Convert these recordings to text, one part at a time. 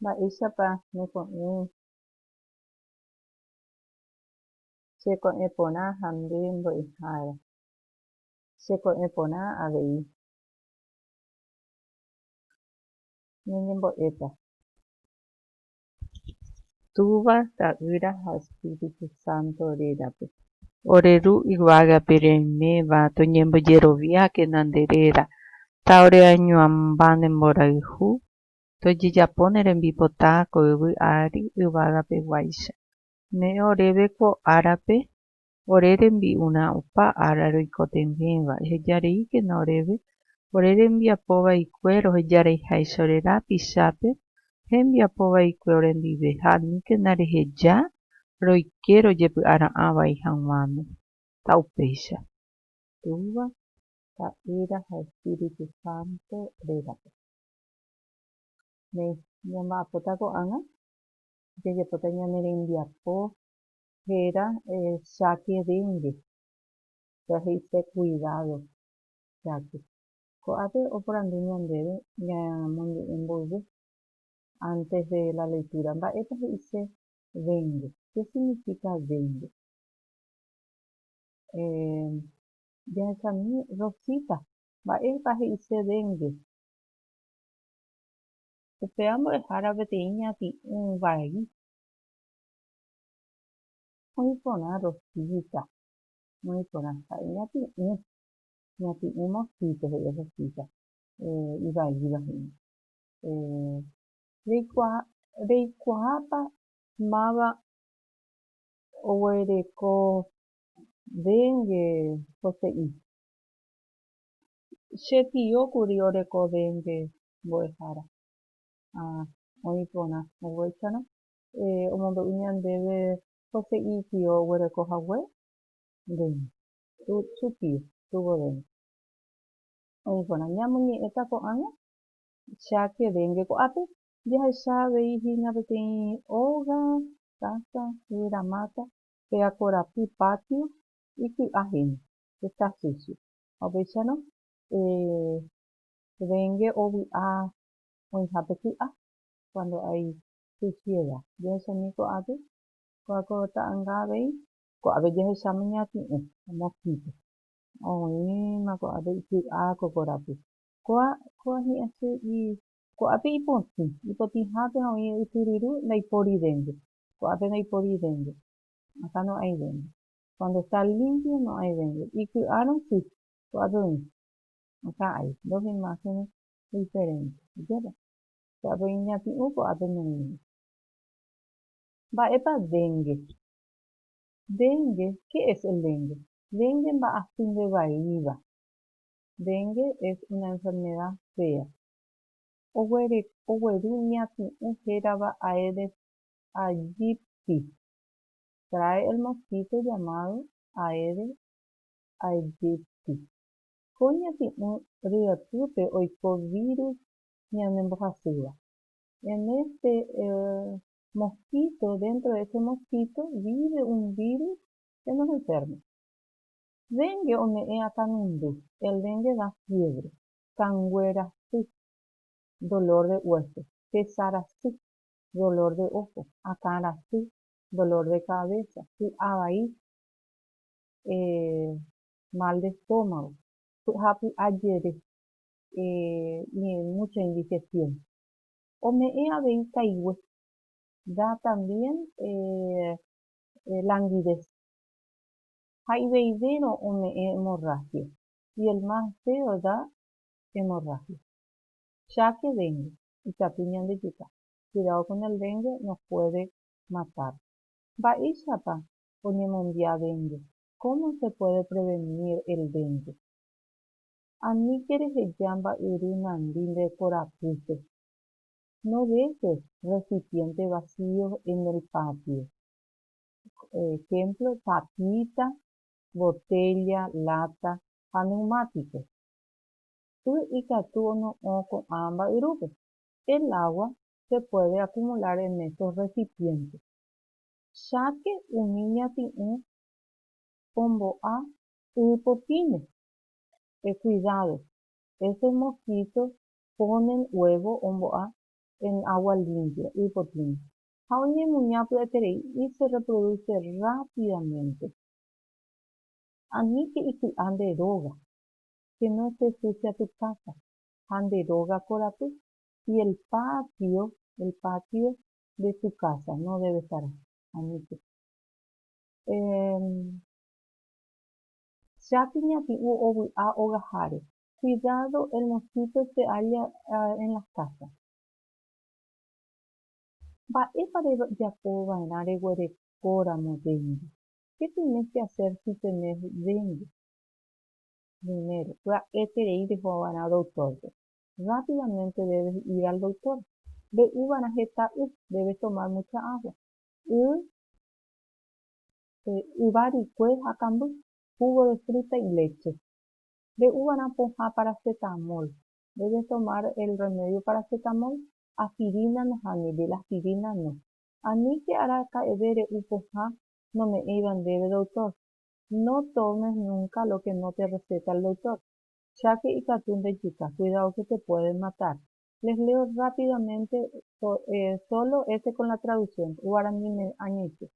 Mba'éichapa neko'ẽ che ko'ẽ porã ha nde mbo'ehára? Che ko'ẽ porã avei ñañembo'éta. Túva, Ta'ýra ha Espíritu Santo rérape. Ore Ru yvágape reiméva, toñembojeroviákena nde réra. Ta ore añoamba ne mborayhu, tojejapo ne rembipota ko yvy ári yvágape guáicha. Ne'ẽ oréve ko árape ore rembi'urã opa ára roikotevẽva, ehejareíkena oréve ore rembiapo vaikue rohejareiháicha ore rapichápe hembiapo vaikue orendive ha aníkena reheja roike rojepy'ara'ã vai hag̃uáme. Ha upéicha. Túva, Ta'ýra ha Espíritu Santo rérape. Néi, ñamba'apóta ko'ág̃a, jajapóta ñane rembiapo Héra cháke déngue, péva he'ise kuidádo cháke. Ko'ápe oporandu ñandéve ñamonde'e mboyve ántes de la leitúra, mba'épa he'ise déngue, ké signifíka déngue. Jahechami Rosita, mba'épa he'ise déngue. Upéva mbo'ehára peteĩ ñati'ũ vai. Oĩ porã Rosita. Oĩ porã. Ha'e ñati'ũ. Ñati'ũ mosquito he'i Rosita. Eh, ivaíva he'i. Eh, reikuaa, reikuaápa máva oguereko dengue poteĩ? Che tio kuri oreko dengue mbo'ehára. Ha oĩ porã oguécharõ omombe'u ñandéve ose'i itío oguereko hague? Ndéne. Su tío, su governo. Oĩ porã, ñamoñe'ẽta ko'ág̃a cha kevénge ko'ápe, jahecha avei hína peteĩ óga, casa, yvyramáta pe akorapy patio iky'a hína, está sucio. Ha upéicharõ, kevénge ovy'a oĩhápe ky'a, cuando hay che chiéva. Jahechamíi ko'ápe, ko'ã ko ta'ãnga avei. Ko'ápe jahecháma iñati'ũ, mosquito. Oĩma ko'ápe iky'a ko korapy. Ko'ã, ko'ã hi'ãse i. Ko'ápe ipotĩ, ipotĩhápe ha oĩ ytyryru, ndaipóri dénte. Ko'ápe ndaipóri dénte. Akã no'ãi dénte. Cuando está limpio no'ãi dénte. Iky'a rosy, ko'ápe oĩ. Akã hay dos imágenes diferentes. Oikéta? Che avei iñati'ũ ko'ápe noĩme. Mba'épa dengue? Dengue, ¿qué es el dengue? Dengue mba'asy nde vaíva. Dengue es una enfermedad fea. Oguereko ogueru iñati'ũ hérava Aedes aegypti. Trae el mosquito llamado Aedes aegypti. Ko iñati'ũ ryepýpe oiko virus ñane mbohasýva. En este mosquito, dentro de este mosquito vive un virus que nos enferma. Dengue ome'ẽ akanundu, el dengue da fiebre, kanguerasy, dolor de hueso, tesarasy, dolor de ojo, akãrasy, dolor de cabeza, py'avai, eh, mal de estómago, py'apy'a jere, mucha indigestión. Ome'ẽ avei kaigue. Da también languidez. Ha'iveivéro ome'ẽ hemorragia. Y el más feo da hemorragia. Cháke dengue. Ikatu ñandejuka. Cuidado con el dengue, nos puede matar. Mba'éichapa oñemombia dengue? Cómo se puede prevenir el dengue? Aníke reheja mba'yru nandi nde korapýpe. No dejes recipientes vacíos en el patio. Ejemplo, tapita, botella, lata ha neumático. Y ikatu ono'õ ko'ã mba'yrúpe. El agua se puede acumular en estos recipientes. Cháke umi ñati'ũ ombo'a y potĩme. E cuidado, ese mosquito ponen huevo ombo'a en agua limpia, y potĩva, ha oñemuña py'aiterei y se reproduce rápidamente. Aníke iky'a nde róga, que no esté sucia tu casa, ha nde róga korapy y el patio, el patio de tu casa no debe estar aníke. Emm. Chápi ñati'ũ ovy'a ogaháre. Cuidado el mosquito se halla en las casas. Mba'épa rejapo va'erã reguerekóramo dengue? Qué tienes que hacer si tenés dengue? Primero, pya'eterei reho va'erã doctor-pe. Rápidamente debes ir al doctor. Mbe'u va'erã heta y, debes tomar mucha agua. Y yva rykue ha kamby, jugo de fruta y leche. Re'úvarã pohã paracetamol, debe tomar el remedio paracetamol, aspirina nahániri, el aspirina no. Aníke araka'eve re'u pohã nome'ẽiva ndéve doctor, no tomes nunca lo que no te receta el doctor, cháke ikatu ndejuka, cuidado que te pueden matar. Les leo rápidamente solo este con la traducción, guarani me añeite.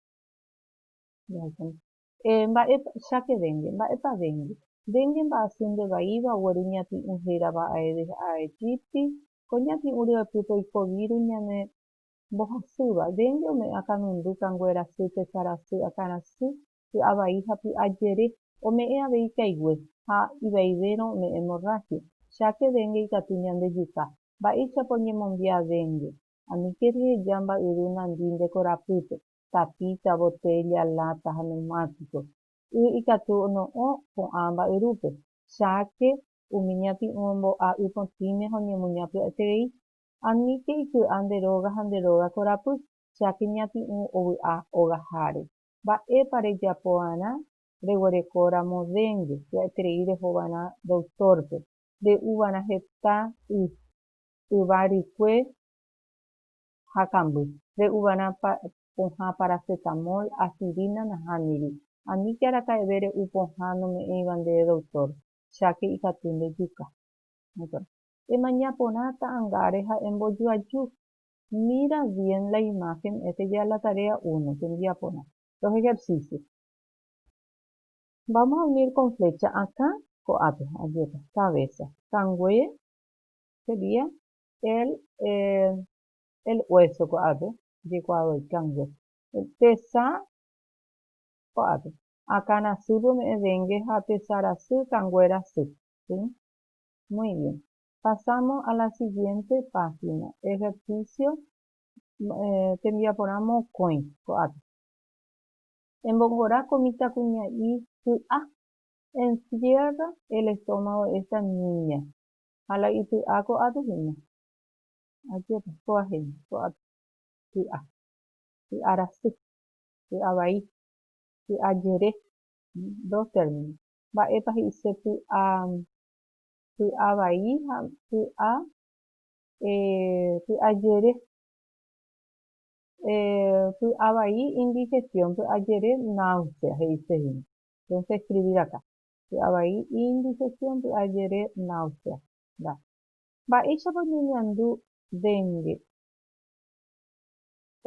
Eh, mba'épa, cháke vénge, mba'épa vénge? Vénge mba'asy nde vaíva ogueru ñati'ũ hérava aéve ha aetípti, ko ñati'ũ ryepýpe oiko víru ñane mbohasýva. Vénge ome'ẽva kanundu, kanguerasy, tesarasy, akãrasy, py'a vai ha py'a jere, ome'ẽ avei ikaigue, ha ivaivérõ ome'ẽ hemorragia. Cháke vénge ikatu ñande juka. Mba'éichapa oñemombia vénge? Aníke ryeheja mba'yru nandi nde korapýpe. tapícha, botélla, láta ha neumátiko. Y ikatu ono'õ ko'ã mba'yrúpe, cháke, umi ñati'ũ ombo'a'y potĩme ha oñemuña py'aiterei. Aníke iky'a nde róga ha nde róga korapy, cháke ñati'ũ ovy'a ogaháre. Mba'épa rejapova'erã? Reguerekóramo déngue, py'aiterei rehova'erã doktórpe, re'uva'erã heta y, yva rykue, ha kamby, re'uvarã pohã paracetamol, aspirina nahániri. Ani che araka'eve re'u pohã nome'ẽiva ndéve doctor, cháke ikatu ndejuka. Emaña porã ta'angáre ha embojoaju. Mira bien la imagen, esta ya es la tarea uno, tembiaporã. Los ejercicios. Vamos a unir con flecha akã ko'ápe, ajépa, cabeza, kangue sería El el hueso ko'ápe jekuaadoikángo tesa ko'ápe akãrasýpe ome'ẽ dengue ha tesarasy kanguéra sy si muy bien pasamos a la siguiente página ejercicio tembiaporã mokõi ko'ápe embongora ko mitãkuña'i ky'a encierra el estómago de esta niña Ha la ity'a ko'ápe hína. Ajépa, kóva hína, ko'ápe. Ky'a. Ky'a rasy. Ky'a vai. Ky'a jere. Dos términos. Mba'épa he'ise ky'a, ky'a vai ha ky'a, eh, ky'a jere? Eh, ky'a vai indigestión, ky'a jere náusea he'ise hína. Entonces escribir acá. py'avai indigestión py'ajere náusea. Nda. Mba'éichapa oñeñandu dengue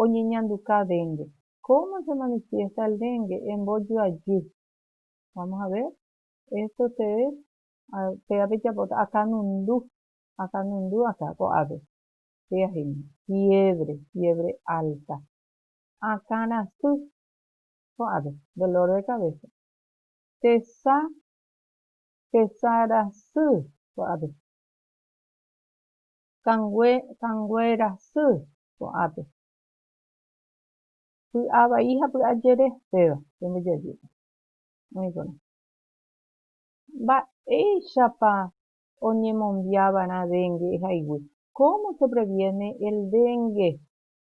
oñeñanduka dengue. Cómo se manifiesta el dengue embojoajy. Vamos a ver esto ustedes péva pejapóta akanundu akanundu akã ko'ápe pyaheño fiebre fiebre alta akãrasy ko'ápe dolor de cabeza tesa tesarasy ko'ápe, kangue kanguerasy ko'ápe, py'avai ha py'ajere péva pembojajúta. Oĩkorã. Mba'éichapa oñemombia va'erã dengue haigui? Cómo se previene el dengue?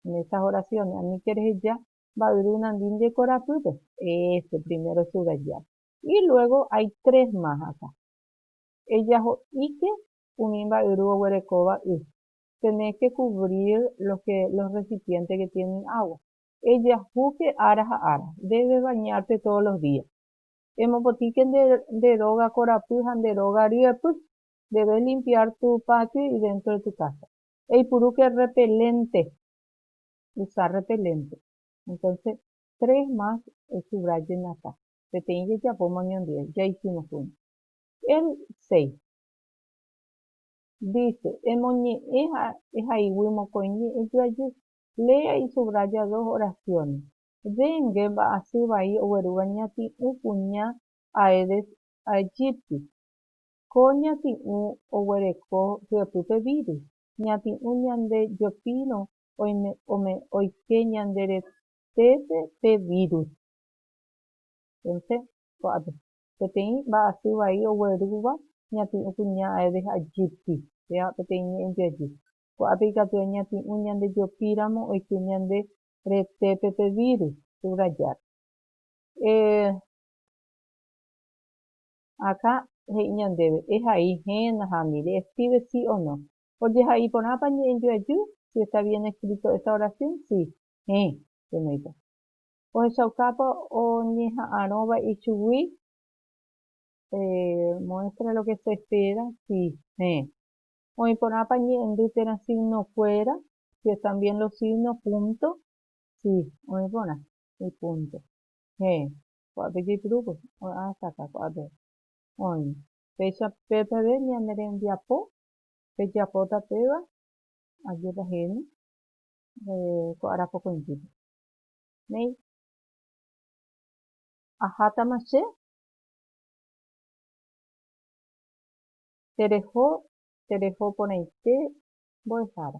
En estas oraciones aníke reheja mba'yru nandínte korapýpe. Este primero subrayar. Y luego hay tres más acá. Ejaho'íke umi mba'yru oguerekóva y. Tenés que cubrir los que los recipientes que tienen agua. Ejahúke ára ha ára. Debes bañarte todos los días. Emopotĩke nde nde róga korapy ha nde róga ryepy. Debes limpiar tu patio y dentro de tu casa. Eipurúke repelente. usa rrepelénte. Entónse tres más esubrallenata, peteĩ jajapóma oñondive, ya isimosgui. El seis. Dice, emoñe'ẽ ha ehaygui mokõi ñe'ẽ joajy, lea y subraya dos oraciones. Dengue mba'asy vai oguerúva ñati'ũ kuña Aedes aegypti. Ko ñati'ũ oguereko hyepýpe virus. Ñati'ũ ñande jopírõ oike ñande retépe pe vírus. Entonse, ko'ápe, peteĩ mba'asy vai oguerúva ñati'ũ kuña aéve ajýti, péva peteĩ ñe'ẽnte ajy. Ko'ápe ikatu añati'ũ ñandejopíramo oike ñande retépe pe vírus, subrayar. Eh, akã he'i ñandéve, ehai, héna ha mire, escríbe sí o no. Ojehai porãpa ñe'ẽngue ajy? Si está bien escrito esta oración? Si. Héẽ, penoipa. Ohechaukápa oñeha'arõva ichugui? Se muestra lo que se espera? Si. Héẽ. Oĩ porãpa ñe'ẽndy térã signokuéra? Si están bien los signos punto? Si. Oĩ porã. Y punto. Héẽ. Ko'ápe jaipurúvo. Oĩ hasta acá. Ko'ápe. Oĩ. Péicha pépe ave ñane rembiapo pejapóta péva, ajépa he'íne ko ára pokõitýpe. Néi, ahátama che, tereho, tereho porãite mbo'ehára.